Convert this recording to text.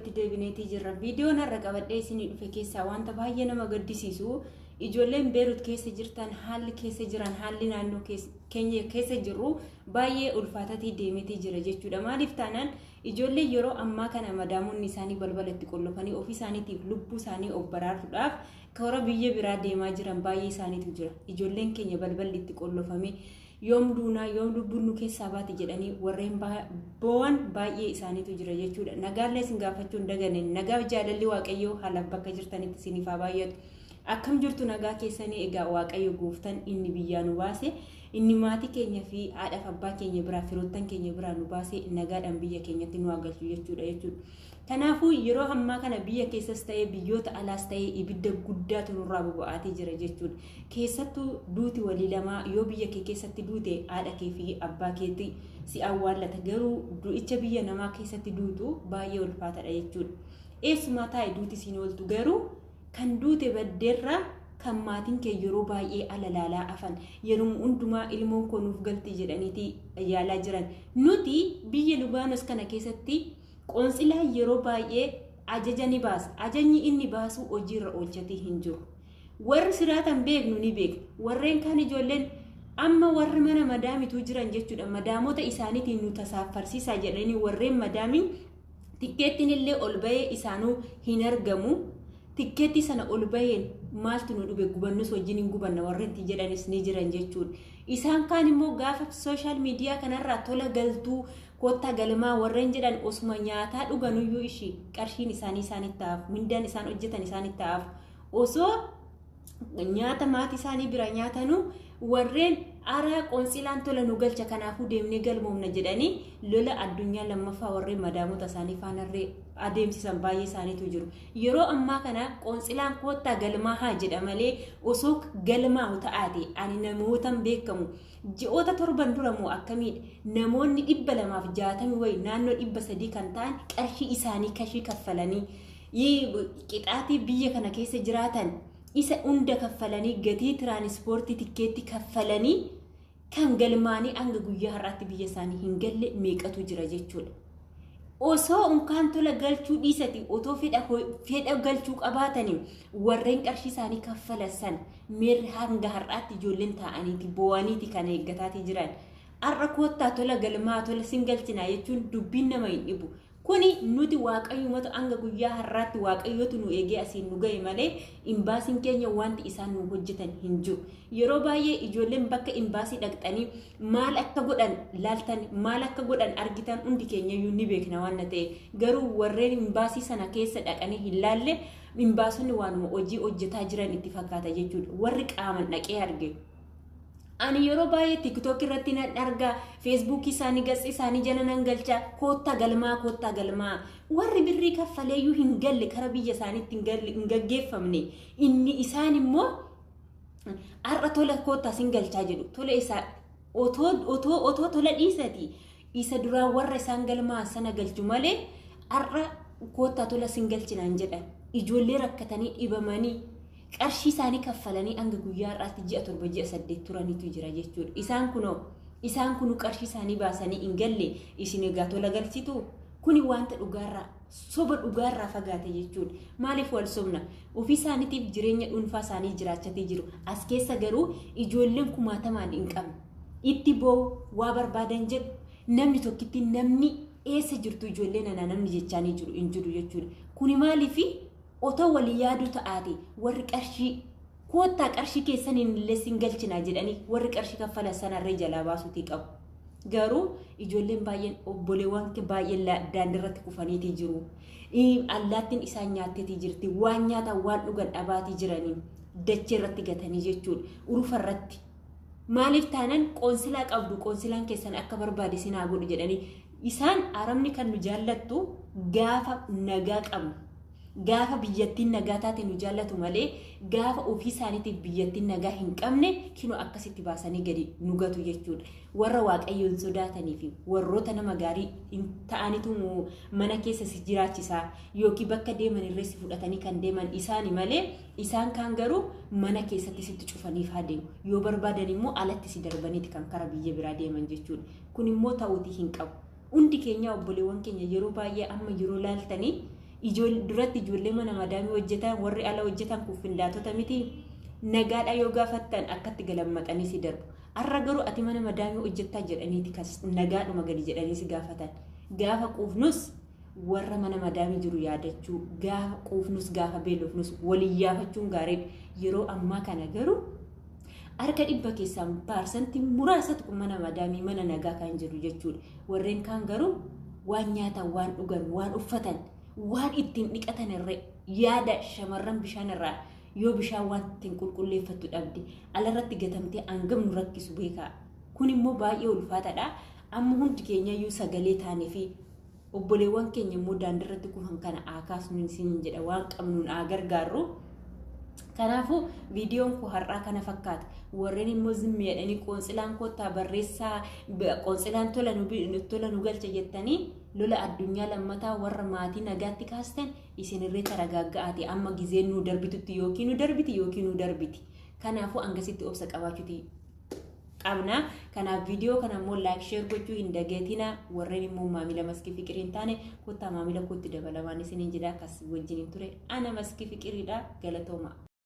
itti deebineetii jirra. Viidiyoon har'a qabadhee isinii dhufe keessaa wanta baay'ee nama gaddisiisu ijoolleen Beerut keessa jirtan haalli keessa jiran haalli naannoo keenya keessa jirru baay'ee ulfaatatii deemetii jira jechuudha. Maaliif taanaan ijoollee yeroo ammaa kana madaamonni isaanii balbala itti qollofanii ofii isaaniitiif lubbuu isaanii of baraaruudhaaf karaa biyya biraa deemaa jiran baay'ee isaaniitu jira. Ijoolleen keenya balballi itti qollofamee Yoom duunaa, yoom lubbuun nu keessaa baati jedhanii warreen boo'an baay'ee isaaniitu jira jechuudha. Nagaallee isin gaafachuun dagane nagaaf jaalalli Waaqayyoo haalaaf bakka jirtanitti isiniif haa baay'atu. Akkam jirtu nagaa keessanii egaa Waaqayyo gooftan inni biyyaa nu baase inni maatii keenya fi haadhaaf abbaa keenya biraa firoottan keenya biraa nu baase nagaadhaan biyya keenyatti nu haa galchu jechuudha jechuudha. Kanaafuu yeroo ammaa kana biyya keessas ta'ee biyyoota alaas ta'ee ibidda guddaatu nurraa boba'aatee jira jechuudha. Keessattuu duuti walii lamaa yoo biyya kee keessatti duute haadha kee fi abbaa keetti si awwaallata garuu du'icha biyya namaa keessatti duutu baay'ee ulfaatadha jechuudha. Eessumaa taa'e duuti siin ooltu garuu kan duute baddeerraa kan maatiin kee yeroo baay'ee alalaalaa afan yeruma hundumaa ilmoon koo nuuf galti jedhaniiti yaalaa jiran. Nuti biyya Lubaanos kana keessatti Qoonsilaan yeroo baay'ee ajaja ni baasa. Ajajni inni baasu hojiirra oolchatii hin jiru. Warri siraatan beeknu ni beekna. Warreen kaan ijoolleen amma warri mana madaamituu jiran jechuudha. Madaamota isaaniitiin nu tasaaffarsiisaa jedhanii warreen madaamii tikkeettiin illee ol bahee isaanuu hin argamu. Tikkeettii sana ol baheen maaltu nu dhube gubannus wajjin hin gubanna warreen itti jedhanis ni jiran jechuudha. Isaan kaan immoo gaafa sooshaal miidiyaa kanarraa tola galtuu koottaa galimaa warreen jedhan osuma nyaataa dhuganuyyuu ishii qarshiin isaanii isaanitti ta'aaf mindaan isaan hojjetan isaanitti ta'aaf osoo nyaata maatii isaanii bira nyaatanu warreen araa qoonsilaan tola nu galcha kanaafuu deemnee galmoomna jedhanii lola addunyaa lammaffaa warreen madaamota isaanii faanarree adeemsisan baay'ee isaaniitu jiru. Yeroo ammaa kana qoonsilaan koottaa galmaa haa jedha malee osoo galmaa'u ta'aate ani namootan beekamu Ji'oota torban dura moo akkamiidha namoonni dhibba lamaaf jaatami wayi naannoo dhibba sadii kan ta'an qarshii isaanii kashii kaffalanii qixaatii biyya kana keessa jiraatan isa hunda kaffalanii gatii tiraanispoortii tikkeetti kaffalanii kan galmaanii hanga guyyaa har'aatti biyya isaanii hin galle meeqatu jira jechuudha. osoo unkaan tola galchuu dhiisati otoo fedha fedha galchuu qabaatani warreen qarshii isaanii kaffalan san meerri hanga har'aatti ijoolleen taa'aniiti boo'aniiti kan eeggataati jiran. Har'a koottaa tola galmaa tola sin galchinaa jechuun dubbiin nama hin dhibu. Kuni nuti waaqayyumatu hanga guyyaa har'aatti waaqayyotu nu eegee asiin nu ga'e malee imbaasiin keenya wanti isaan nu hojjetan hin jiru. Yeroo baay'ee ijoolleen bakka imbaasii dhaqxanii maal akka godhan laaltan maal akka godhan argitan hundi keenyayyuu ni beekna waan na ta'e garuu warreen imbaasii sana keessa dhaqanii hin laalle imbaasonni waanuma hojii hojjetaa jiran itti fakkaata jechuudha warri qaaman dhaqee arge. Ani yeroo baay'ee tiktook irratti nan argaa feesbuukii isaanii gatsi isaanii jala nan galcha koottaa galmaa koottaa galmaa warri birrii kaffaleeyyuu hin galle kara biyya isaaniitti hin gaggeeffamne inni isaan immoo Har'a tola koottaa sin galchaa jedhu tola isaa otoo otoo otoo tola dhiisati isa duraa warra isaan galmaa sana galchu malee har'a koottaa tola sin galchinaan jedhan ijoollee rakkatanii dhibamanii qarshii isaanii kaffalanii hanga guyyaa har'aatti ji'a torba ji'a saddeet turanitu jira jechuudha. Isaan kunoo isaan kunu qarshii isaanii baasanii hin galle isin egaa tola galchitu kuni wanta dhugaarraa Soba dhugaa irraa fagaate jechuun maaliif wal sobna? Ofii isaaniitiif jireenya dhuunfaa isaanii jiraachatii jiru. As keessa garuu ijoolleen kumaatamaan hin qabne. Itti boo'u, waa barbaadan jedhu, namni tokkitti namni eessa jirtu ijoollee nanaa namni jechaanii jiru hin jiru jechuudha. Kuni maaliifi otoo walii yaaduu ta'aate warri qarshii Koottaa qarshii keessaniin illee sin galchinaa jedhanii warri qarshii kaffalan sanarree jalaa baasuutii qabu. Garuu ijoolleen baay'een obboleewwan baay'een daandirratti kufaniitii jiru. Allaattiin isaan nyaatteetii jirti. Waan nyaataan waan dhugan dhabaatii jiranii dachee irratti gatanii jechuudha. Urufa irratti. Maaliif taanan qoonsilaa qabdu qoonsilaan keessan akka barbaade sin haa godhu jedhanii isaan arabni kan nu jaallattu gaafa nagaa qabnu. Gaafa biyyattiin nagaa taate nu jaallatu malee gaafa ofii isaaniitiif biyyattiin nagaa hin qabne kinoo akkasitti baasanii gadi nu gatu jechuudha. Warra waaqayyo hin sodaatanii fi warroota nama gaarii hin ta'anitu mana keessa si jiraachisaa yookiin bakka deeman irree si fudhatanii kan deeman isaani malee isaan kaan garuu mana keessatti sitti cufaniif haa deemu. Yoo barbaadan immoo alatti si darbaniiti kan kara biyya biraa deeman jechuudha. Kun immoo ta'uutii hin qabu. Hundi keenyaa obboleewwan keenya yeroo baay'ee amma yeroo laaltanii ijool- duratti ijoollee mana madaamii hojjetan warri ala hojjetan kun findaatota miti nagaadhaa yoo gaafattan akkatti galammaqanii si darbu. Har'a garuu ati mana madaamii hojjettaa jedhaniiti kas nagaadhuma gadi jedhanii si gaafatan. Gaafa quufnus warra mana madaamii jiru yaadachuu gaafa quufnus gaafa beelofnus waliyyaafachuun gaariidha. Yeroo ammaa kana garuu Harka dhibba keessaan paarsantii muraasatu kun mana madaamii mana nagaa kan jiru jechuudha. Warreen kaan garuu waan nyaatan, waan dhugan, waan uffatan, waan ittiin dhiqatan irra yaada shamarran bishaan irraa yoo bishaan waan ittiin qulqulleeffattu dhabde alarratti gatamtee hangam nu rakkisu beekaa. Kun immoo baay'ee ulfaataadha. Amma hundi keenyayyuu sagalee taanee fi obboleewwan keenya immoo daandirratti kufan kana haa kaasnu isiniin jedha waan qabnuun haa gargaarru. Kanaafuu viidiyoon koo har'aa kana fakkaata. Warreen immoo zimmi jedhanii qoonsilaan kottaa barreessaa qoonsilaan tola nu tola nu galcha jettanii lola addunyaa lammataa warra maatii nagaatti kaastan isinirree taragaagga'aati amma gizeen nu darbitutti yookiin nu darbiti yookiin nu darbiti. Kanaafuu hangasitti obsa qabaachuuti qabna. Kanaaf viidiyoo kana immoo laayik sheer gochuu hin dagatina. Warreen immoo maamila maskii fiqirii hin taane kottaa maamila kootti dabalamaan isiniin jedha. Kas wajjin hin ture ana maskii fiqiriidha galatooma.